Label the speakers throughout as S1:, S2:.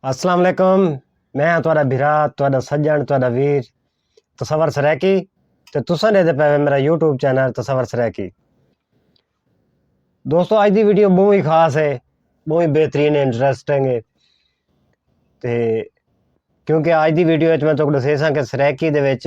S1: السلام علیکم میں ہاں تہاڈا بھرا تہاڈا سجن تہاڈا ویر تصور سرائیکی تے تساں دے پے میرا یوٹیوب چینل تصور سرائیکی دوستو اج دی ویڈیو بہت ہی خاص ہے بہت ہی بہترین ہے انٹرسٹنگ ہے تے کیونکہ اج دی ویڈیو وچ میں تہاڈے دسیساں کہ سرائیکی دے وچ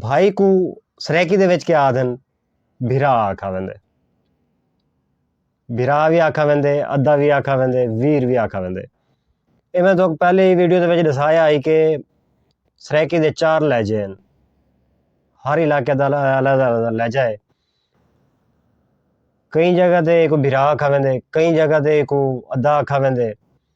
S1: بھائی کوں سرائیکی دے وچ کیا آہدن بھرا آکھا ویندے بھرا وی آکھا ویندے ادا وی آکھا ویندے ویر وی آکھا ویندے اے میں تہاکوں پہلے ہی ویڈیو دے وچ ڈسایا ہی کہ سرائیکی دے چار لہجے ہیں ہر علاقے دا الگ الگ لہجہ ہے کئی جگہ تے ایکو بھرا آکھا ویندے کئی جگہ تے ایکو ادا آکھا ویندے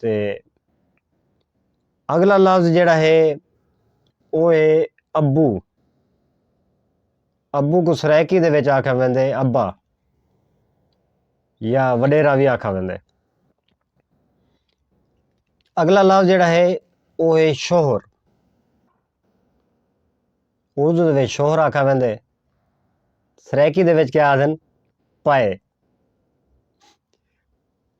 S1: تے اگلا لفظ جیڑھا ہے او ہے ابو۔ ابو کوں سرائیکی دے وچ آکھیا ویندے ابا یا وڈیرا وی آکھیا ویندے۔ اگلا لفظ جیڑھا ہے او ہے شوہر۔ اردو دے وچ شوہر آکھیا ویندے۔ سرائیکی دے وچ کیا آکھدن پائے۔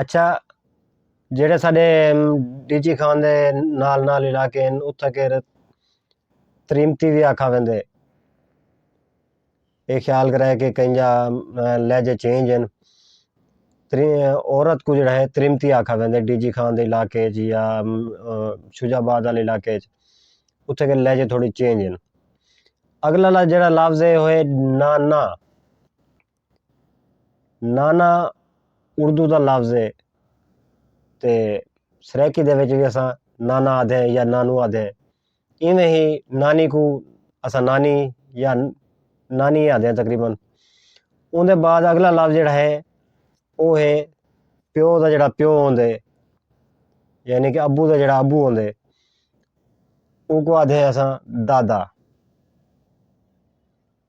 S1: اچھا جیڑھے ساڈے ڈی جی خان دے نال نال علاقے ہن اتھاں کیر تریمتی وی آکھا ویندے اے خیال کرے کہ کہیں جا لہجے چینج ہن تری عورت کوں جیڑھا ہے تریمتی آکھا ویندے ڈی جی خان دے علاقے اچ یا شجاع آباد والے علاقے اچ اتھاں کیر لہجے تھوڑے چینج ہن اگلا جیڑھا لفظ ہے او ہے نا نا۔ نانا اردو دا لفظ ہے تے سرائیکی دے وچ وی اساں نانا آکھدے ہیں یا نانو آکھدے ہیں ایویں ہی نانی کوں اساں نانی یا نانی آکھدے ہیں تقریبا اوں دے بعد اگلا لفظ جیڑھا ہے او ہے پیو دا جیڑھا پیو ہوندے یعنی کہ ابو دا جیڑھا ابو ہوندے اوں کوں آکھدے ہیں اساں دادا۔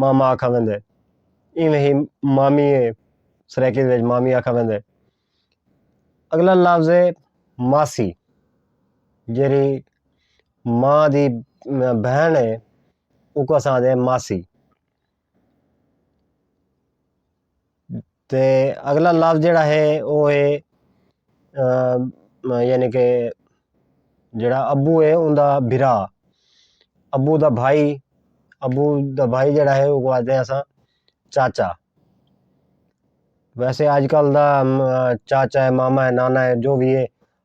S1: ماما آکھا ویندے۔ ایویں ہی مامی ہے سرائیکی دے وچ مامی آکھا ویندے۔ اگلا لفظ ہے ماسی جیڑھی ماں دی بہن ہے اوکوں اساں آکھدے ماسی۔ تے اگلا لفظ جیڑا ہے او ہے یعنی کہ جیڑا ابو ہے اوں دا بھرا ابو دا بھائی ابو دا بھائی جیڑا ہے اوں کوں آکھدے آں اساں چاچا ویسے اج کل دا چاچا ہے ماما ہے نانا ہے جو وی ہے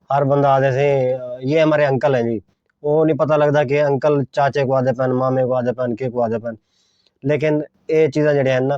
S1: ہر بندہ آکھدے سے یہ ہمارے انکل ہیں جی او نی پتہ لگدا کہ انکل چاچے کوں آکھدے پئے ہن مامے کوں آکھدے پئے ہن کیکوں آکھدے پئے ہن لیکن اے چیزاں جیڑیاں ہن نا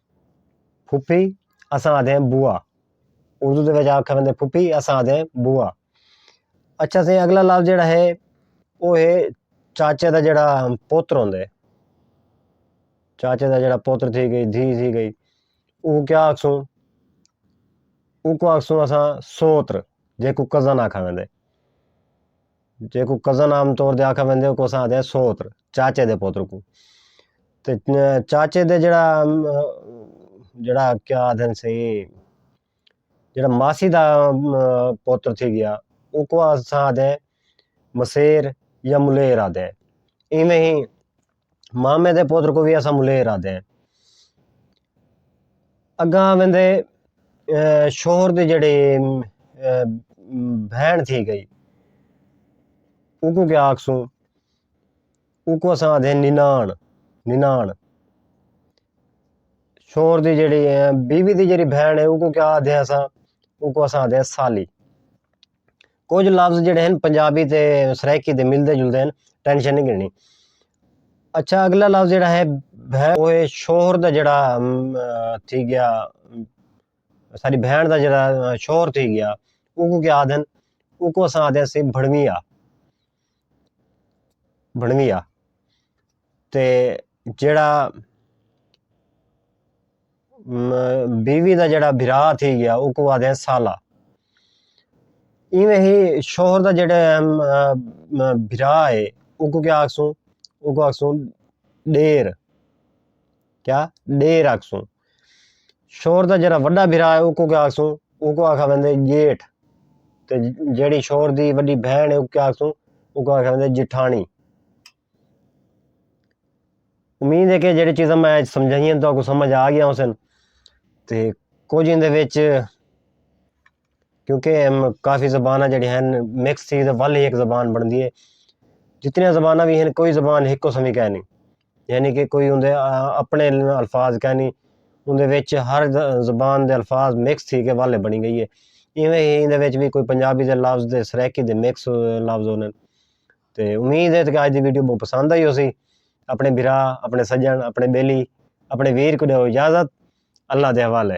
S1: پھوپھی، اساں آہدے ہیں بوا۔ اردو دے وچ آکھیا ویندے پھوپھی، اساں آہدے ہیں بوا۔ اچھا سئیں اگلا لفظ جیڑھا ہے او ہے چاچے دا جیڑھا پوتر ہوندے۔ چاچے دا جیڑھا پوتر تھی گئی، دھی تھی گئی۔ او کیا آکھسوں؟ اوکوں آکھسوں اساں سوتر جیکوں کزن آکھا ویندے۔ جیکوں کزن عام طور تے آکھا ویندے اوکوں اساں آکھدے آں سوتر چاچے دے پتر کوں تے چاچے دے جیڑا جیڑا کیا آکھدے ہنسی جیڑا ماسی دا پتر تھی گیا اوکوں اساں آکھدے آں مسیر یا ملیر آکھدے آں ایویں ہی مامے دے پتر کوں وی اساں ملیر آہدے ہیں۔ اگاں ویندے شوہر دی جیڑھی بہن تھی گئی اوکوں کیا آکھسوں اوکوں اساں آہدے ہیں ننان ننان شوہر دی جیڑھی بیوی دی جیڑھی بہن ہے اوکوں کیا آہدے ہیں اساں اوکوں اساں آہدے ہیں سالی۔ کجھ لفظ جیڑے ہن پنجابی تے سرائیکی دے ملدے جلدے ہن ٹینشن نی گھنڑنی اچھا اگلا لفظ جیڑا ہے بہن او ہے شوہر دا جیڑا تھی گیا ساڈی بہن دا جیڑا شوہر تھی گیا اوکوں کیا آکھدن اوکوں اساں آکھدے ہاں سی بھڑوی آ بنڑوی آ تے جیڑھا بیوی دا جیڑھا بھرا تھی گیا اوکوں آدھے سالہ ایویں ہی شوہر دا جیڑھا بھرا ہے اوکوں کیا آکھسوں اوکوں آکھسوں ݙیر کیا ݙیر آکھسوں۔ شور دا جیہڑا وݙا بھرا ہے اوکوں کیا آکھسوں، اوکوں آکھا ویندے ڄیٹھ تے جیہڑی شور دی وݙی بھیݨ ہے اوکوں کیا آکھسوں، اوکوں آکھا ویندے ڄیٹھاݨی۔ امید ہے کہ جیہڑی چیزاں میں اڄ سمجھائیاں تہاکوں سمجھ آ ڳیاں ہوسن تے کجھ ایندے وچ کیونکہ کافی زباناں جیڑھیاں ہن مکس تھی تے ول ہک زبان بݨدی ہے جتنیاں زباناں وی ہن کوئی زبان ہکو سمی کائنی یعنی کہ کوئی اوندے اپݨے الفاظ کائنی اوندے وچ ہر زبان دے الفاظ مکس تھی کے ول بݨی ڳئی ہے ایویں ہی ایندے وچ وی کوئی پنجابی دے لفظ تے سرائیکی دے مکس لفظ ہوندن تے امید ہے کہ اڄ دی ویڈیو ٻہوں پسند آئی ہوسی اپݨے بھرا اپݨے سڄݨ اپݨے ٻیلی اپݨے ویر کوں ݙیؤ اجازت اللہ دے حوالے